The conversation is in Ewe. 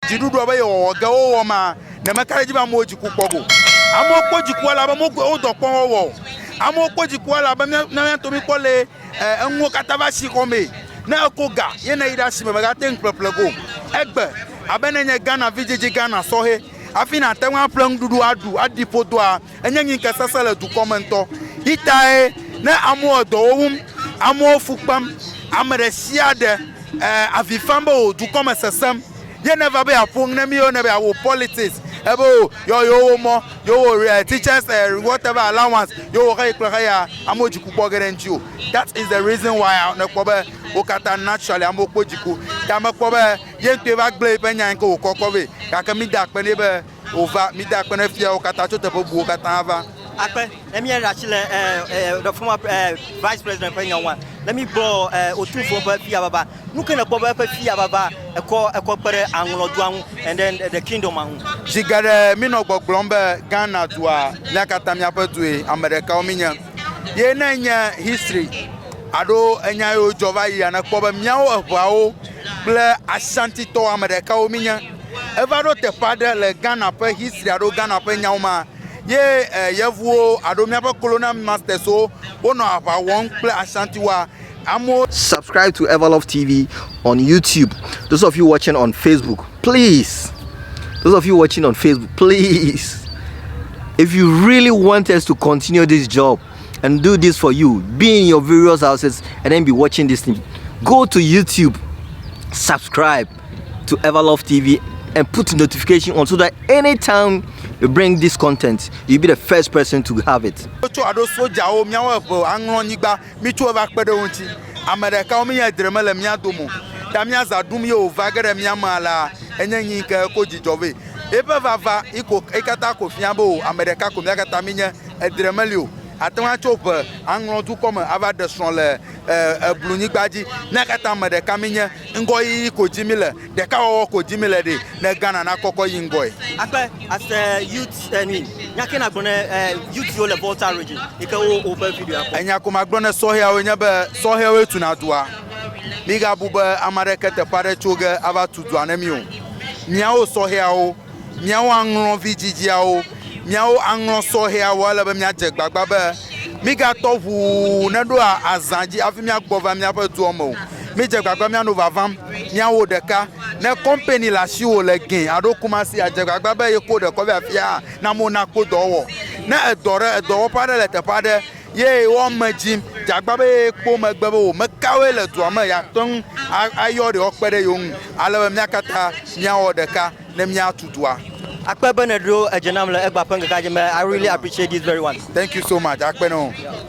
Dziɖuɖua be yewɔwɔ ge wowɔ ma, ɖe meka ɖe edzi be amewo dziku kpɔ go? Amewo kpɔ dziku elabe mogoe wo dɔ kpɔ wɔwɔ o. Amewo kpɔ dziku elabe mía na míato míkpɔ le enuwo katã va si xɔ mee. Ne eko ga ye ne yi ɖe asime mègate ŋu ƒleƒle go egbe abe ne enye Ghana vidzidzi Ghana sɔhɛ hafi nàte ŋu aƒle nuɖuɖu aɖu aɖi ƒodoa Enye ŋike sese le dukɔ me ŋtɔ yi tae ne amewo edɔ wowum, amewo fu kpem, ame ɖe sia ɖe e avi fam be o dukɔ me sesem ye ne va be ya ƒo ŋ ne miwo ne be ya wo politics ebe o yɔ yewo wo mɔ yewo wo e teachers e whatever allowance yewo wo xeyi kple xeya amewo dziku kpɔ ge ɖe ŋti o that is the reason why a ne kpɔ be wo kata naturally amewo kpɔ dziku ta me kpɔ be ye ŋtɔe va gble yi ƒe nya yi ke wo kɔ kɔ vɛ gake mi da akpe nɛ be wòva, mide akpe ne fiawo katã tso teƒe bubuwo katã va. Akpe ne mía ɖe asi le the former vice president ƒe nya ŋua, ne mi gbɔ Otumfuo ƒe fia baba, nu ke nèkpɔ be eƒe fia baba ekɔ ekɔ kpe ɖe aŋlɔ dua ŋu and then the kingdom ŋu. Zi geɖe mi nɔ gbɔgblɔm be Ghana dua mía katã míaƒe due, ame ɖekawo mi nye, ye ne enye history aɖo enya yiwo dzɔ va yia, nèkpɔ be míawo eŋeawo kple Ashanti tɔwo ame ɖekawo mi nye. Eva ɖo teƒe aɖe le Ghana ƒe history alo Ghana ƒe nyawo ma ye eh, yevuwo alo míaƒe colonial masters wo wonɔ aʋa wɔm kple Ashantiwoa. Amewo Subscribe to Everlove TV on YouTube. Those of you watching on Facebook, please. Those of you watching on Facebook, please. If you really want us to continue this job and do this for you, be in your various houses and then be watching this thing, go to YouTube, subscribe. to Everlove TV and put notification on so that anytime we bring this content, you'll be the first person to have it. Wotso aɖo sojawo míawo eve aŋlɔ nyigba mítso eva kpe ɖe wo ŋuti ame ɖekawo mí edre mele mía dome ta míaza ɖum ye wòva ge ɖe mía me alea enye nyi ke ko dzidzɔ vɛ eƒe vava iko ekata ko fia be o ame ɖeka ko mía katã mí nye edre meli o ate ŋu atso ʋe aŋlɔ dukɔ me ava ɖe srɔ̃ le eblu nyigba dzi mía katã ame ɖeka mí nye Ŋgɔyiyi ko dim míle, ɖekawɔwɔ ko dim míle ɖe, ne Ghana nakɔkɔ yi ŋgɔe. Akpe, as a youth, I mean, nya ke nàgblɔ ne youth yiwo le Volta Region yi ke wo woƒe videoa kpɔm? Enya ko magblɔ ne sɔhɛawo nye be, sɔhɛwoe tuna dua. Migabu be ame aɖeke teƒe aɖe tso ge ava tu dua ne mi o. Miawo sɔhɛawo Míawo aŋlɔ vidzidziawo. Míawo aŋlɔ sɔhɛawo. Ele be míadze gbagba be mígatɔ ʋuu neɖo azã dzi hafi míagbɔ va míaƒe dua me o. Mídze gbagba míanɔ vavam míawo ɖeka. Ne kɔmpɛni le asiwò le gɛ alo Kumasi la, dze gbagba be yeko ɖekɔ vɛ afia hã na mona kpo dɔ wɔwɔ. Ne edɔ ɖe, edɔwɔƒe aɖe le teƒe aɖe Ye wɔ me dzi djagba be ye kpo megbe be wò mekawoe le dua me yeate ŋu ayɔ ɖe woakpe ɖe yewo ŋu ale be mía katã míawɔ ɖeka ne míatu dua. Akpe be nèɖo edzi nam le Egba ƒe ŋkekea dzi me, I really appreciate this very one. Thank you so much, Akpe na wò.